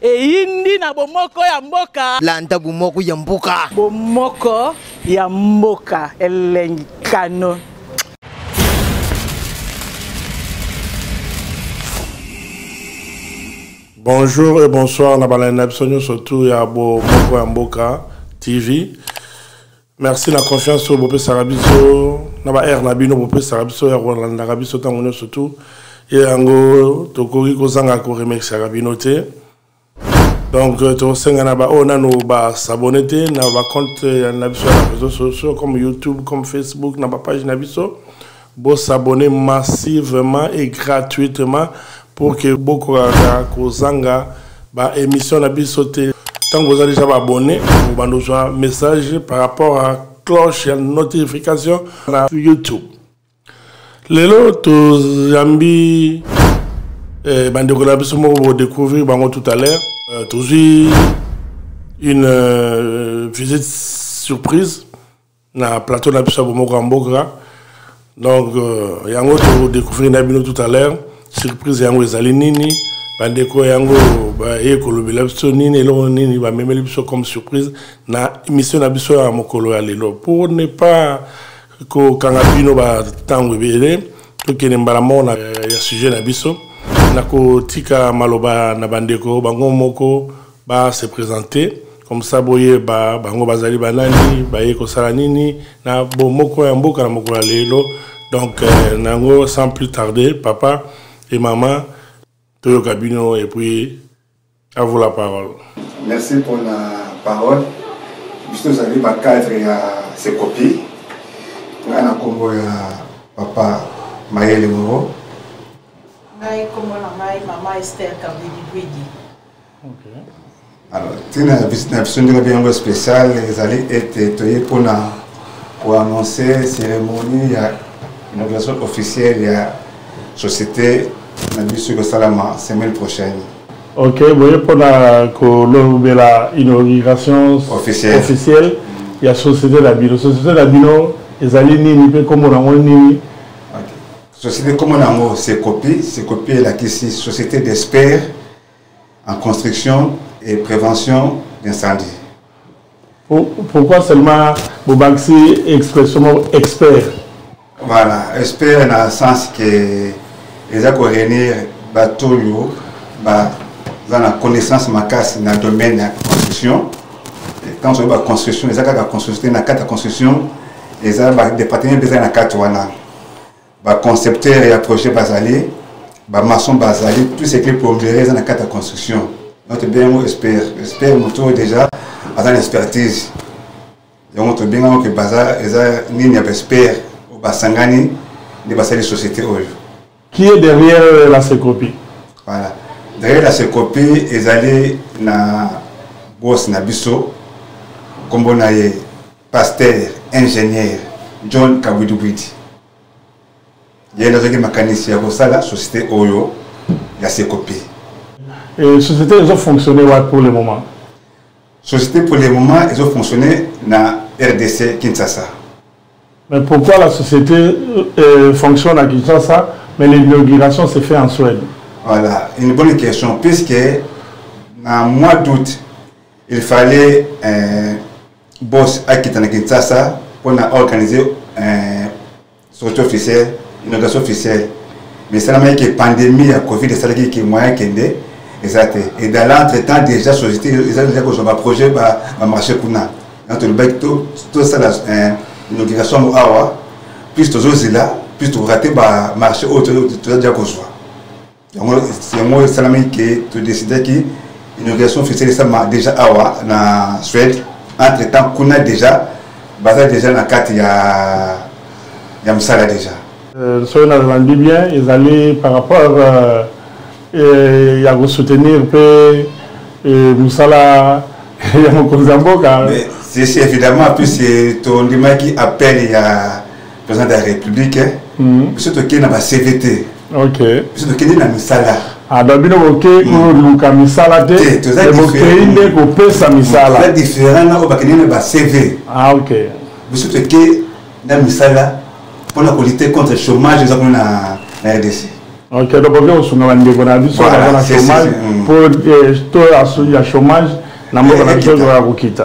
eyindi na bomoko ya mboka landa bomoko ya mboka bomoko ya mboka elengi kano bonjour et bonsoir na balandi na biso nyonso tour ya bomoko ya mboka tv merci na confiance oyo bopesaka biso na ba aire na bino bopesaka biso ya kolandaka biso ntango nyonso tu ye yango tokoki kozanga koremerciaka bino te donc euh, tokosenga na baoyo oh, nano basabone te na bacompte euh, na biso ya bareseau sociaux comme youtube comme facebook na bapage na biso Bo s'abonner massivement et gratuitement pour que bokokaka kozanga ba émission na biso te. Tango oza déjà ba abonner, obanda ozwa message par rapport à cloche ya notification na YouTube. Lelo tozambi eh, bandeko na biso moko bo découvrir bango tout à l'heure. Euh, tozwi une euh, visite surprise na plateau na biso ya bomoko ya mboka donc euh, yango tokodecouvrir na bino tout à l'heure surprise yango ezali nini bandeko yango baye kolobela biso nini eloko nini bamemeli biso comme surprise na émission na biso ya mokolo ya lelo pour ne pas kokanga bino bantango ebele tokende mbala moko na ya sujet na biso nakotika maloba na bandeko bango moko ba se présenter comme ça boye ba bango bazali banani baye kosala nini na bomoko ya mboka na mokolo ya lelo donc euh, nango sans plus tarder papa et maman toyoka bino et puis à vous la parole merci pour la parole biso tozali bacadre ya sekopi ngai na nkombo ya papa mayele moro ngai nkombo na ngai mama ester kabidi bwidi alors ntina ya visite na biso ndenge mpe yango spécial ezali ete toye mpona koannonce cérémonie ya inauguration officielle ya société na biso ekosalama semaine prochaine ok boye mpona kolobela inauguration officielle ya société na bino société na bino ezali nini mpe nkombo nango nini société nkombo na yango secopi secopi elakisi société d'expert en construction et prévention d'incendie pourquoi seulement bobakisi expression moko expert voilà expert na sens ke eza koréunir bato oyo baza na connaissance makasi na domaine ya construction quand oyebi baconstruction eza kaka construction te na kati ya construction eza badepartement mpe eza na kati wana baconcepteur ya projet bazali bamaçon bazali tout ce qui plombere eza na kati ya construction donc tobengi yango expert expert moto oyo déjà aza na expertise yango tobengi yango ke baza eza nini ya baexpert oyo basangani nde basali société oyo qui est derrière euh, la secopie voilà derrière la secopie ezali na bos na biso nkombo na ye pasteur ingénieur john kabwidubwidi ye nde azwaki makanisi ya kosala société oyo ya sekopi Et société ezo fonctionner wapi pour le moment société pour le moment ezo fonctionner na rdc kinshasa mais pourquoi la société euh, fonctionne à kinshasa mais l'inauguration se fait en suède voilà une bonne question puisque na mois d'août il fallait euh, boss akita na kinshasa mpo na organise eh, sortie officielle inondation officielle mais esalamaki ke pandémie ya covid esalaki ke moyen kende eza te et dans l'entre temps déjà société eza deja kozwa baprojet bamarché kuna na tolobaki tosala eh, inauguration yango awa plus tozozela plus tokorate bamarché oyo toza deja kozwa yango yango esalami ke todecidaki inauguration officielle esalama déjà awa na suède entre temps kuna déjà baza déjà na kati ya ya mosala déjà euh, soki nalandi bien ezali par rapport euh, euh, ya kosoutenir mpe mosala ya mokonzi ya mboka ceci évidemment puisque tondimaki appel ya président de la république hein. hmm. biso tokei na bacv te biso tokei na misala ado ah, bino boke koluka hmm. misala te bokei nde kopesa misala hmm. différent na oyo bakende na bacv ah, biso tokei na misala mpona kolite contre chômage eza kuna na rdc ok donc okoki kosunga bandeko na biso baza na chômage mpo eh, to ya chômage na mboka na biso ezokoka kokita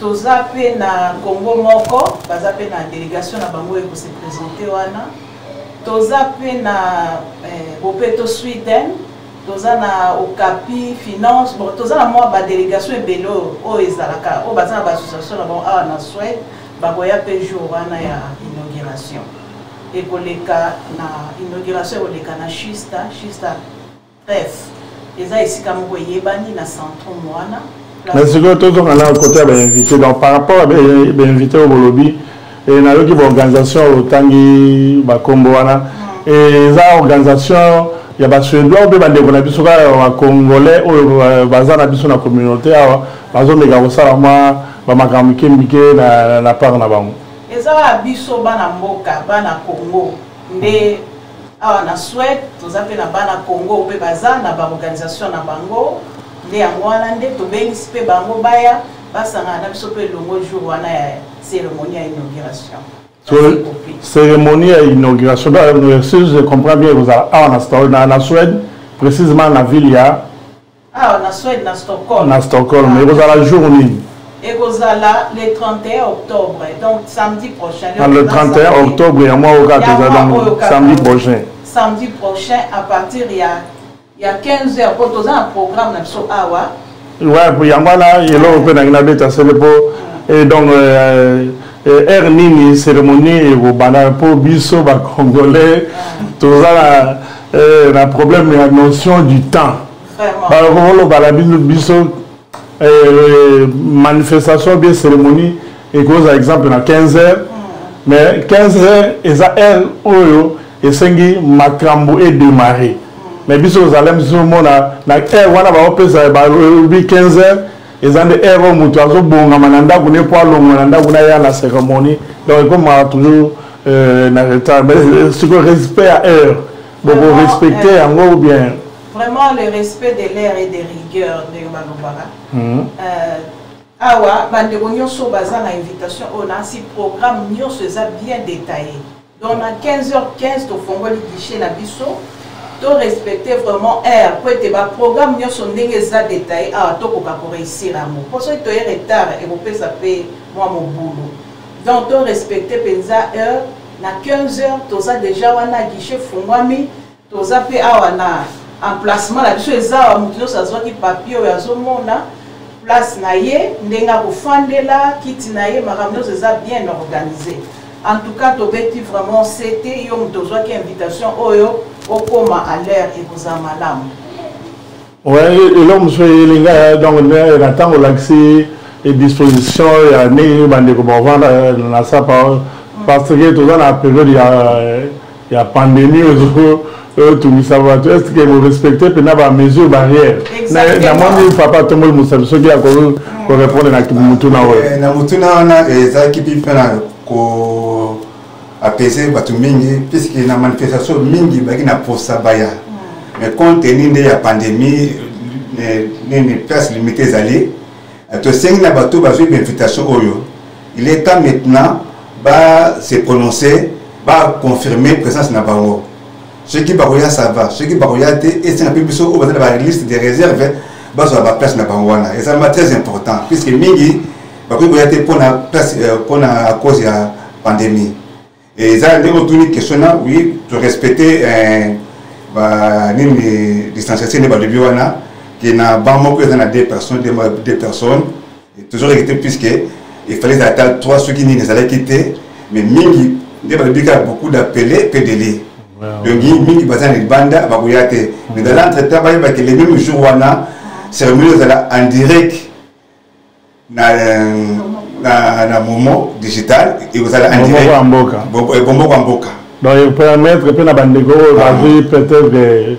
toza pe na congo moko baza pe na delegation na bango eko se presente wana toza pe na eh, bopeto sweden toza na okapi finance bon toza na mwa badelegation ebele oyo ezalaka oyo baza na baassociation na bango awa na swede bakoya pe jour wana ya inauguration ekoleka na inauguration ekoleka na shista shista Bref, eza esika moko eyebani na centrum wana. Mais sikoyo tozonga na kote ya bainvité donc par rapport ya bainvité oyo bolobi eh, nayoki baorganisation oyo otangi bakombo wana mm. eh, eza organisation ya basuédois mpe bandeko na biso kaka bacongolais oyo euh, baza na biso na communauté awa bazomeka kosala mwa bamakambo mike mike na part na bango eza biso bana mboka bana congo nde awa na Suède toza mpe na bana Congo mpe baza na baorganisation na bango nde yango wana nde tobengisi mpe bango baya basangana na biso mpe elongo jour wana ya cérémonie ya inauguration cérémonie ya inauguration si je comprends bien ekozala awa na suède précisément na ville ya awa na swede na stockholm na stockholm ah. ekozala jour nini ekozala le 31 octobre donc samedi prochain ah, le 31 octobre ya mwa oyo kaka tozala samedi prochain samedi prochain à partir ya ya 15 heures mpo toza na programme na biso awa wa yango wana eloko mpe nangi nabeta sele mpo ah. donc euh, Eh, heure nini cérémonie ekobanda mpo biso bacongolais toza na eh, na problème ya notion du temps bakoloba na bino biso eh, manifestation bien cérémonie ekozala exemple na 15 heures hmm. mais 15 heures eza heure oyo esengi makambo edémarre hmm. mais biso ozalem zomona na heure wana baopesa balobi 15 heures eza nde heure oyo moto azobongama na ndako ne mpo alongwa na ndako na ya na cérémonie donc ekomaka toujours euh, na retard mais euh, siko respect ya heure boko respecte euh, yango ou bien vraiment le respect de l'air et de rigueur ndenge balobaka mhm. awa bandeko nyonso baza na invitation oyo nasi programme nyonso eza bien détaillé Donc na 15h15 tofongoli guichet na biso to respecter vraiment heure mpo ete baprogramme nyonso ndenge eza detaille awa tokoka koreusir yango mpo soki toye retard ekopesa mpe mwa mobulu donc to respecter mpenza heure na 15 heures toza deja wana guichet fungwami toza pe awa na emplacement na biso eza awa moto nyonso azwaki papier oyo azomona place na ye ndenge akofandela kiti na ye makambo nyonso eza bien organise en tout cas tobeti vraiment sete yo moto ozwaki invitation oyo okoma à l'heure ekozala malamu eloko mosusu eyeli ngai donc na ntango olakisi disposition ya ndenge nini bandeko bavanda euh, na sapa oyo parce que toza na periode ya, ya pandémie ozo otungisa bato est ce que borespecte mpena bamesure barrière namoni papa tomboli mosabi soki akoki korepondre na motuna oyo eh, na motuna wana ezalaki mpe mpe na apese bato mingi puiske na manifestation mingi baki na posa baya mm. mais compte tenu nde ya pandémie eh, nini place limité ezali eh, tosengi na bato bazwi bainvitation oyo il est temps maintenant ba se prononcer ba confirmer présence na bango soki bakoya sava soki bakoya te esenga mpe biso oyo baza na baliste de réserve bazwa baplace na bango wana ezalama très important puisque mingi bakoki koya te mpona place mpona euh, à cause ya pandémie eza ndenge otuni question na oui to respecte euh, banini distanciation nde balobi wana ke na banc moko eza na deux personnes deux personnes tozwaka kite puisque efale ezala ata trois soki nini ezalaki te mais mingi nde balobi kaka beaucoup d'appele mpe dele donc mingi baza na libanda bakoya te mais dans l'entre temps bayebaki le même jour wana cérémonie ezala en direct na na, na momo digital ekozala en direct bomoko ya mboka donc epermettre mpe na bandeko oyo bazwi peut-être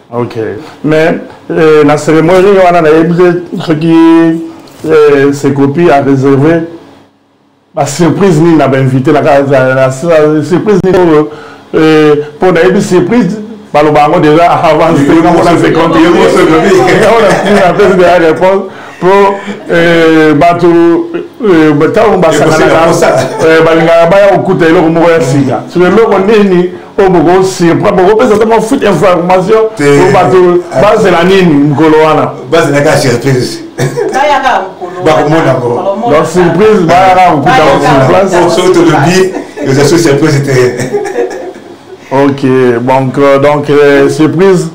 ok mais euh, na cérémonie wana nayebi te soki euh, secopi a réservé basurprise nini na bainvité na surprise nini oyo mpo euh, nayebi surprise baloba yango déjà avance te namona seconde réponse mpo eh, bato eh, ntango basanganaka eh, balingaka baya kokuta eloko moko ya sika so eloko nini po boko surprend bokopesa ata mwa foot information po bato ah. bazela nini mokolo wana bazelaka surprise bakomona ngo donc surprise bayaka kokuta sur place soki tolobi eza so surprise te ok donc euh, donc euh, surprise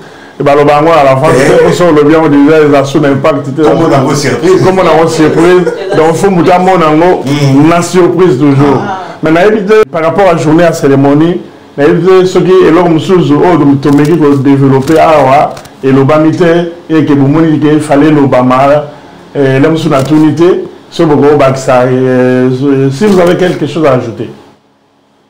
baloba yango na l'enfance eh. biso olobi yango deja eza su na impact te kombo nango surprise kombo nango surprise donc fo moto amona yango hmm. na surprise toujours ah. mais nayebi te par rapport à journée ya cérémonie nayebi te soki eloko mosusu oyo oh, tomeki kodeveloppe awa elobami te eke bomoni ke fale elobama eh, ele mosusu natuni te soki bokobakisa eh, si vous avez quelque chose à ajouter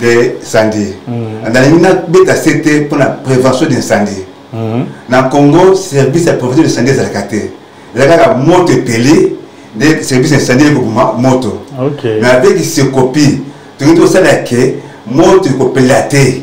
de incendie mm. nalingi nabeta se te mpo na prévention d'incendie mm. na congo service ya prévention d'incendie ezalaka te eza kaka moto epeli nde service ya incendie ekoboma moto mais avec secopi tokoki tosala ke moto ekopelela te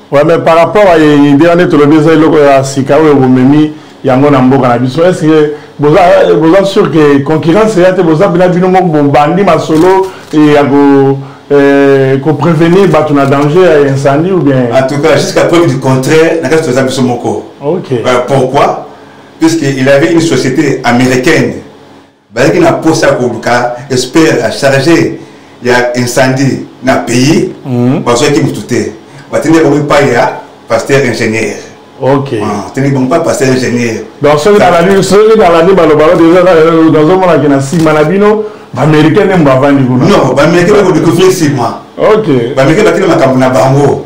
Ouais, mais par rapport à idée wana tolobi eza eloko ya sika oyo bomemi yango na mboka na biso est ce que boza boza sûr que concurrence eya te boza bina bino moko bobandi masolo ya ko eh, ko prévenir bato na danger ya incendie ou bien en tout cas jusqu'à preuve du contraire na kati toza biso moko ok euh, pourquoi puisque il avait une société américaine bazalaki na posa ya koluka espere ya charge ya incendie na pays mhm. bazwaki motu te batindi bango epai ya pasteur ingénieur tindi bango mpa pasteur ingénieur donc soki nalandi baloba nazomonaki na nsima na bino baaméricain nde mbavandi kuna non baaméricain bakodekofie nsima baaméricain bakende makambo na bango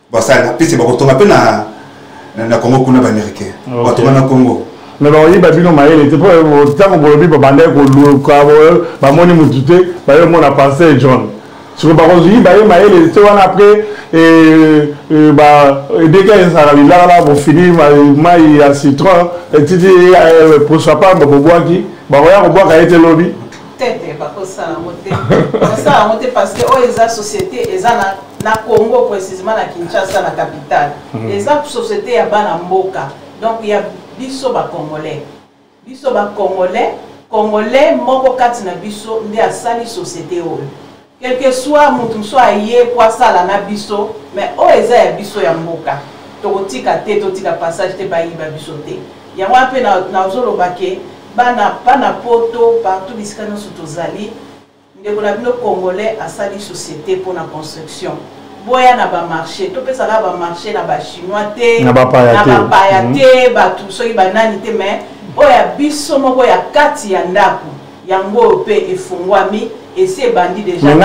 basala na pese bakotonga mpe na na congo kuna baaméricain batonga na congo me bakoyiba bino mayele te mpo ntango bolobi babandaki koluka bamoni motu te baye omona parcel john siko bakoyiba ye mayele te wana apres eh, eh, edeka ezalaka lilaka na bofini mai ya citron etiti eh, poso apamba bobwaki bakoya kobwaka ye te lobi te te bakosala yango te bakosala yango te parce que oyo eza société eza na na congo précisement na kinshasa na capitale mm. eza société ya bana mboka donc ya biso bacongolais biso bacongolais congolais moko kati na biso nde asali société oyo quelque soit moto mosusu aye po asala na biso mais oyo eza ya biso ya mboka tokotika te totika passage te bayiba biso te yango wana mpe nazoloba ke bana bana poto partout bisika nyonso tozali Ndeko na bino congolais asali societe mpo na construction boya na bamarché topesa kaka bamarché na bachinois te na bapaya te mhm. bato soki banani te mais oyo ya biso moko ya kati ya ndako yango oyo mpe efungwami esi ebandi deja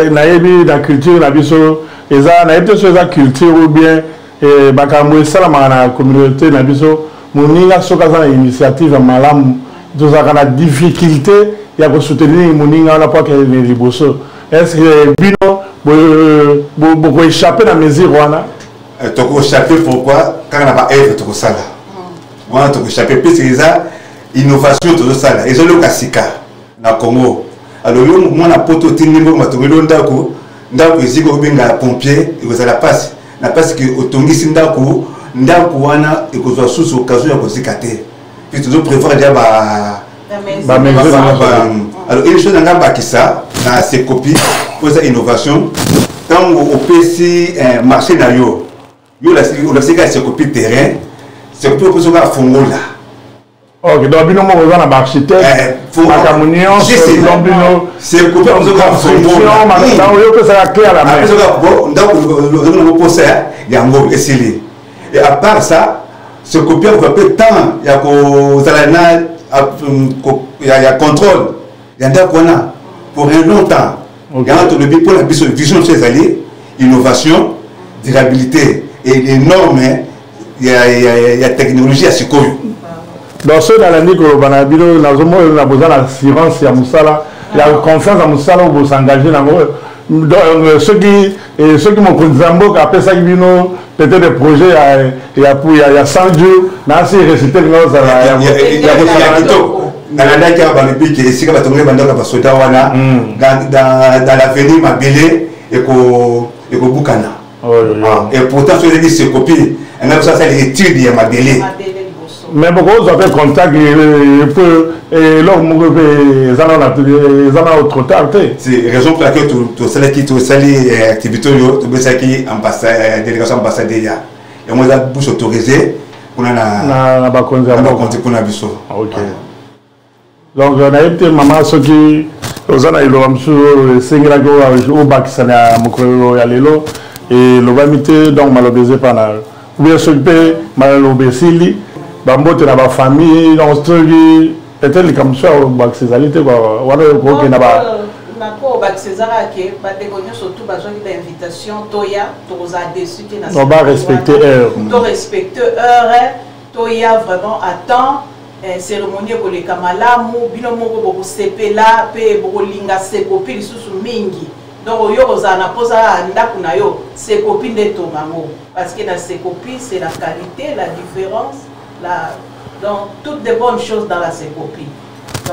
nayebi na culture na biso eza nayebi te so eza culture ou bien Eh, makambo esalamaka na communauté na biso moninga soki aza na initiative ya malamu tozalaka na difficulté ya kosoutenir moninga wana mpo akende liboso est ce que bino bokoechappe na mesure wana eh, tokoechappe pourquoi kaka na baevre tokosala wana tokoechappe puisque eza innovation tozosala ezoloka sika na congo alors yo mwana poto otindi mbongo batongeli yo ndako ndako eziki obenga pompier ekozala mpasi na mpasi ke otongisi ndako ndako wana ekozwa susu okazo ya kozika te mpe tozo prévoir deja ba alors une chose nanga bakisa na secopi mpo eza innovation ntango opesi eh, marché na yo yo olasika secopi terrain secopi opesi oka fongola ok donc bino moko oza na baarchitectemakambo nyonsodon bino oyo opesaka cle ya la mairndakoposa yango esili et à part ça ce copier va mpe temps ya kozala na ya contrôle ya ndako wana pour un long temps yango tolobi mpo na biso vision biso ezali innovation durabilité et norme ya, ya, ya, ya technologie ya sikoyo donc soki nalandi koloba na bino nazomona na boza na assurance ya mosala ya confiance ya mosala oyo bosengage nango euh, soki Et ceux qui m'ont connu Zamboka, après ça, Bino, peut-être des projets à, à, à, à 100 jours, mais assez récité, mais ça va. Il y a des nalandaki awa balobi ke esika bato moye bandako ya basoda wana dans l'avenir mabele ekobukana et pourtant soki ezaki sekopi engai biso asali étude ya mabele mais bokozwa mpe contact mpo eloko moko mpe eza na trop tard te raison pour laquelle tosalaki tosali eh, activité oyo tobesaki eh, délégation ambassadeur ya yango eza bus autorisé kuna na bakonzi mpona biso donc euh, nayebi te mama soki oza na liloba mosusu oyo esengelaki obakisa na mokolo ya lelo elobami te donc maloba eza epa na yo ubie soki mpe maloba esili bambote na bafamille donc soki ete likambo mosusu ya obakisa ezali te wana okokenda ba nako bakisa ezaka ke bandeko nyonso tu bazwaki bainvitation toya tokozala desu te na ba respecte heure to respecte heure toya vraiment à temps eh, cérémonie ekoleka malamu bino moko bokosepela mpe bokolinga sekopi lisusu mingi donc oyo okozala na mposa ya ndako na yo sekopi nde etonga yango parce que na sekopi c'est la qualité la différence la donc toutes de bonnes choses dans la sekopi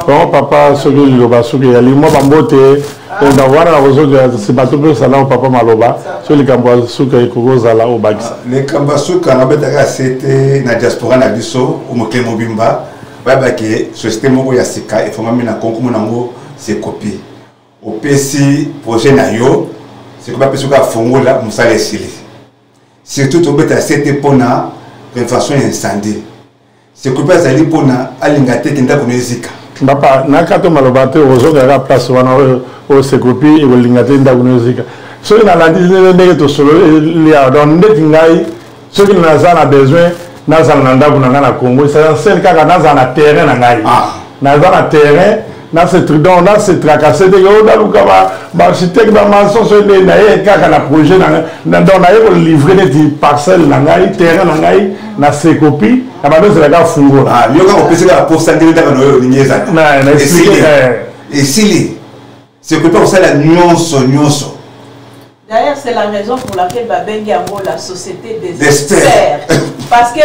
donc papa soki liloba soki ezali mwa bambote enda ah. wana nakozongela nsima topesa nao papa maloba so likambo ya suka ekoki ozala obakisa ah, likambo ya suka nabetaka sete na diaspora na biso omokili mobimba bayeba ke société moko ya sika efongami na konkumu na yango sekopi opesi projet na yo sikoyo bapesi oka afongola mosala esili surtout tobeta sete mpona prévention ya incendie seko mpe azali mpona alinga te ke ndako na ezika papa nakato maloba te ozongaka place wana osekopi ekolinga te ndako na ezika soki nalandi ndenge tosololi awa donc ndeti ngai soki naza na besoin nazala na ndako na ngai na congo esansele kaka nazala na terrain na ngai ah. naza na terrain na se tridon na se tracasse te yo naluka baarchitecte bamason soki nde naye kaka na projet na ngai donc naye kolivre neti parcelle na ngai terrain na ngai na sekopi na bando ezelaka fungola ah, yo kaka opesi kaka posa ndenge kaka na oyo olingi ezalaesili eh. esili sekopi akosala nyonso nyonso D'ailleurs, c'est la raison pour laquelle babengi yango la société des, des experts. Parce que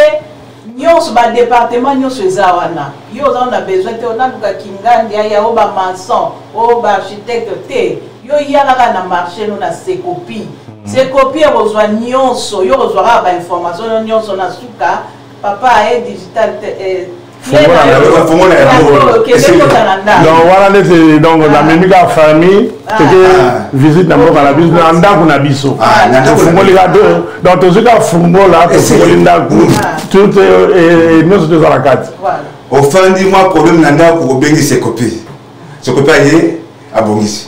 nyonso badepartement nyonso eza wana yo oza na besoin te onaluka kingandi aya o bamaçon o baarchitecte te yo ya kaka na marché no na sekopi hmm. sekopi ekozwa nyonso yo kozwa kaka bainformation no nyonso na suka papa aye digital eh, donc wana ndete donc namemi kaka famille teke visite na mboka na biso na ndako na biso tofungoli ka donc tozwi kaka fungola tofungoli ndako tute nyonso toza na kati ofandi mwa problème na ndako obengisi ekopi sokopi aye abongisi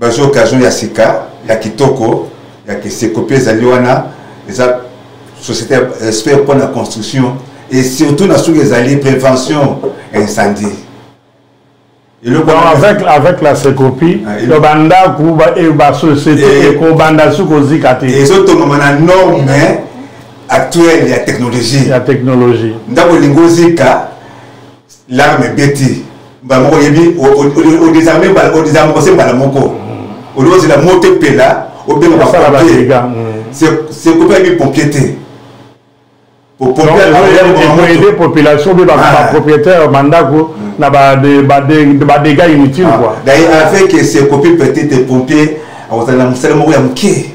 bazwi occasion ya sika ya kitoko ya kiseko mpe ezali wana eza société ya respect mpo na construction et surtout na soki ezali prévention ya incendie avec, avec la secopie ah, to bandako basociété eh, ekobanda soki kozika te ezotongama na norme actuelle ya technologie ya technologie ndako elingi ozika larme ebeti mbala moko oyebi odesarme odesarme kose mbala moko mm. olingi ozela moto epela obenga bapompier sekope ayebi pompier te aider population mpe bapropriétaire bandako na badega inutile quoi avec sekope peut-être pompier akozala na mosala moko ya moke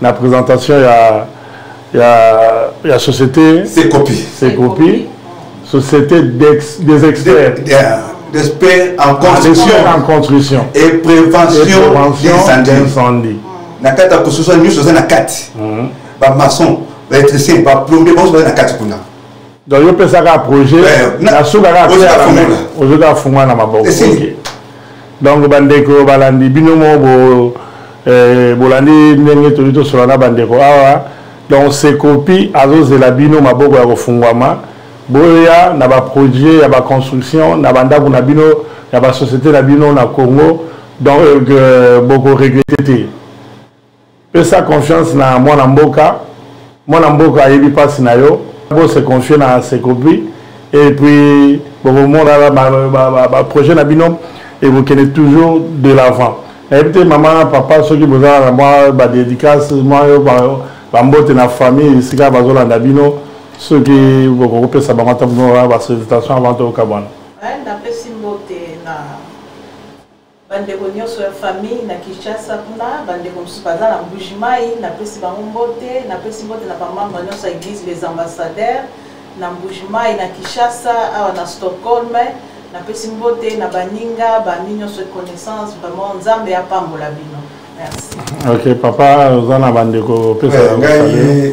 na présentation ya ya ya société c'est copie c'est copie société des, des experts de, de, de, d'experts en construction, en construction et prévention, et prévention d'incendie na kati ya construction nyonso eza na kati bamaçon baélectricien baplombier banso baza na kati kuna donc yo pesa kaka projet eh, na suka kaka ozwi kaka fungwa na maboko donc bandeko balandi bino moko eh, bolandi ndenge toli tosola na bandeko awa donc sekopi azozela bino maboko ya kofungwama boya na baprojet ya baconstruction na bandako na bino ya basociété na bino na congo donc euh, bokoregrete te pesa confiance na mwana mboka mwana mboka ayebi mpasi na yo bo se confie na secopi et puis bokomona baprojet na bino ekokende toujours de l'avant nayebi te mama papa soki bozala na mwa badédicace mwa yo bambote na famille esika bazolanda bino soki bokokopesa bango ata basotation avant tokabwana Bandeko nionso ya famille na Kinshasa kuna, bandeko mosusu baza na Mbujimayi, napesi bango mbote, napesi mbote na ba membres nionso ya Eglise les Ambassadeurs na Mbujimayi, na Kinshasa, awa na Stockholm, napesi mbote na baninga, ba amis nionso et connaissances, vraiment Nzambe apambola bino. ok papa oza na bandeko opesa eh, ngai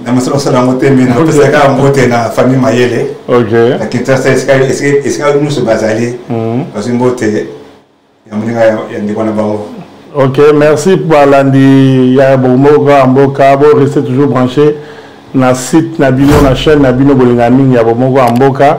na mosala osala yango te me napesa kaka mbote na famille mayele na kinshasa esika nyonso bazali mhm. bazwi mbote ya moninga ya ndeko na bango ok merci balandi ya bomoko ya mboka bo reste toujours branché na site na bino na chaîne na bino bolinga mingi ya bomoko ya mboka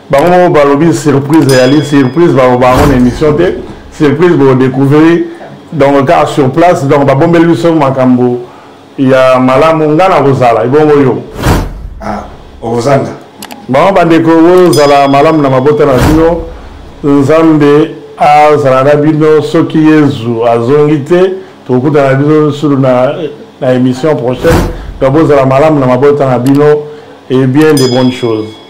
bango moko balobi surprise eyali surprise baloba yango na émission te surprise bokodecouvrir donc kaka sur place donc babombeli biso makambo ya malamu ngai nakozala ebongo yo ah, okozanga bango bandeko bozala malamu na mabota na bino nzambe azala na bino soki yezu azongi te tokokutana biso sulu na, na émission prochaine donc bozala malamu na mabota na bino et bien de bonnes choses